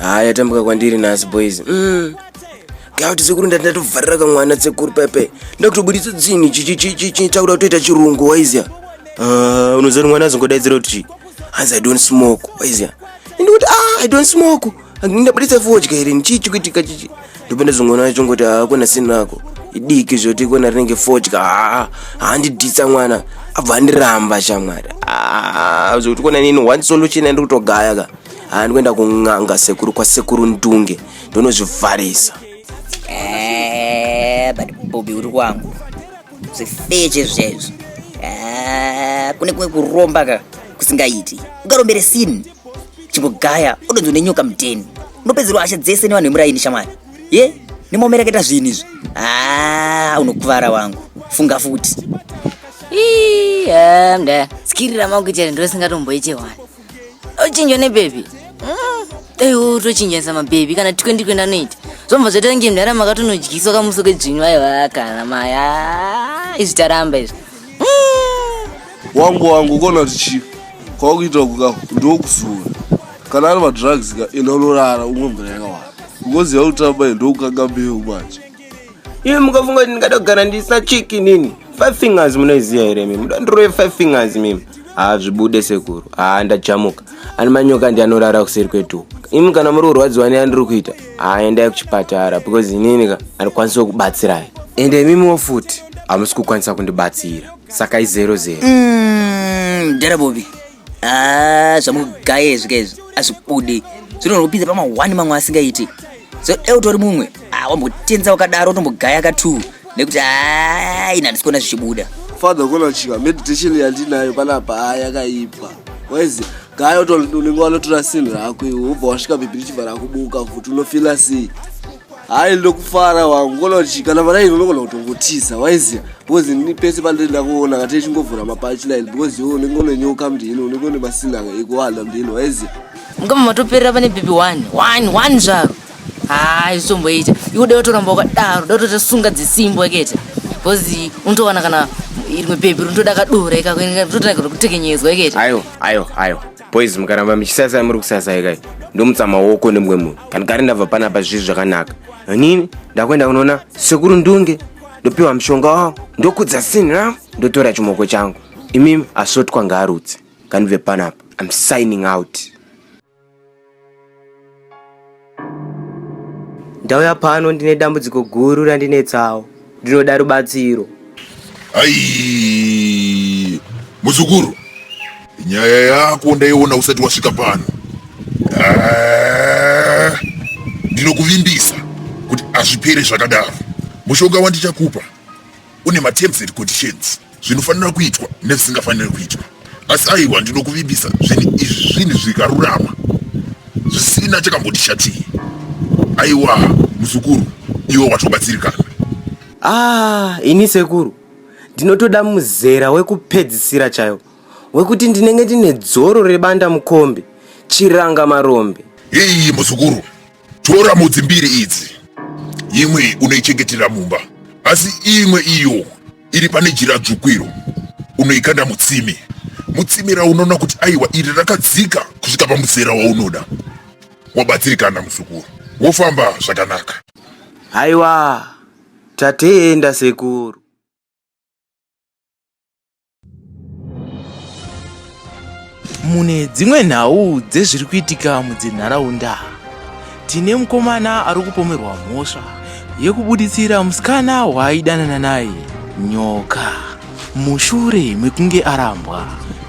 haa yatambuka kwandiri nhasi boys mm. gauti sekuru ndati ndatovharira kamwana tsekuru pepe ndakutobuditsa dzinhu chichichichichi takuda kutoita chirungu waizya ah, unoziva kuti mwana azongodaidzira kuti chii hanzi i don't smoke waizya ndikuti ah i don't smoke ndabuditsa fodya here chii chikuitika chichi ndopenda zvingoona chongoti hakuna sinako idiki zvoti ikona rinenge fodya haa handidhitsa mwana abva andiramba shamwari haa zvokuti kona nini one solution andiri kutogaya ka haa ndikuenda kun'anga sekuru kwasekuru ndunge ndonozvivharisa Eh, but bobi uri kwangu zvifeche zvezvo Eh, kune kumwe kuromba ka kusingaiti ungarombere sini chingogaya odonzwa nenyoka mudheni unopedzerwa hasha dzese nevanhu vemuraini shamwari ye nemomereketa zvinhu izvi haa ah, unokuvara wangu funga futi mda skirira mangu chete ndosingatomboite wani ochinjwa nebhebhi mm, dai wotochinjanisa mabhebhi kana tikendi kuenda noita zvomva zvaita nge mdara makatonodyiswa kamuso kedzvinyu vaiva kana maya ah, izvi taramba izvi wangu wangu ukona kuti chii kwakuita kuka ndokuzura kana ari madrugs ka enda unorara umwe mvura yakawanda ukoziva kuti tamba ndokukanga mbeu manje iwe mukafunga kuti ndingada kugara ndisina chiki nini five fingers munoiziva here mimi mudandirove five fingers mimi haa zvibude sekuru haa ndajamuka ani manyoka ndi anorara kuseri kwetuwo imi kana muri kurwadziwa neandiri kuita haa endai kuchipatara because inini ka handikwanisi kukubatsirai ende imimiwo futi hamusi kukwanisa kundibatsira saka izero zero Mm, Dara Bobby. Ah, zvamugaya izvi kaizvi azvibudi. Zvinoda kupinza pama one mamwe asingaiti. So dai utori mumwe. Ah, wambotenza wakadaro utombogaya ka two. Nekuti ah, ina ndisikuona zvichibuda. father ukonachika meditation yandinayo panapa haa yakaipa waizi gaya unenge wanotora sinhu rako iwe wobva wasvika bhibhi richibva rakubuka futi unofila sei hayi ndokufara wangu kona kuti kana vana ino unogona kutongotiza waiziya because ini pese pandiri ndakuona kati ichingovhura mapachline because iwe unenge une nyoka mndini unenge une masinanga ekuwanda mndini waiziya ngoma matoperera pane bhibhi one one one zvaro haa izvitomboita iwe dai watoramba wakadaro dai watotosunga dzisimbo ekete bcause unotowana kana rimwe bhebhi rinotoda kadora ikakutotanga kutekenyedzwa ekete ayo ayo ayo boys mukaramba muchisasai muri kusasai kai ndomutsa maoko nemumwe munhu kana kari ndabva panapa zviri zvakanaka nini ndakuenda kunoona sekuru ndunge ndopiwa mushonga wavo ndokudza sini ravo ndotora chimoko changu imimi asotwa ngaarutse kanibve panapa im signing out Ndauya pano ndine dambudziko guru randinetsawo. Ndinoda rubatsiro. Ai! Muzukuru. Nyaya yako ndaiona usati wasvika pano. Ah, ndinokuvimbisa kuti azvipere zvakadaro. Mushonga wandichakupa une materms and conditions zvinofanira kuitwa nezvisingafaniri kuitwa asi aiwa ndinokuvimbisa zvinhu izvi zvinhu zvikarurama zvisina chakambondishatii aiwa muzukuru iwe watobatsirikana ah ini sekuru ndinotoda muzera wekupedzisira chayo wekuti ndinenge ndine dzoro rebanda mukombe chiranga marombe hii muzukuru Tora mhodzi mbiri idzi, imwe unoichengetera mumba, asi imwe iyo iri pane jira dzvuku iro unoikanda mutsimi. Mutsimi raunoona kuti aiwa iri rakadzika kusvika pamuzera waunoda. Wabatsirikana muzukuru, wofamba zvakanaka. Haiwa, tatenda sekuru. mune dzimwe nhau dzezviri kuitika mudzinharaunda tine mukomana ari kupomerwa mhosva yekubuditsira musikana waaidanana naye nyoka mushure mekunge arambwa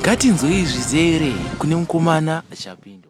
ngatinzwei zvizere kune mukomana achapindwa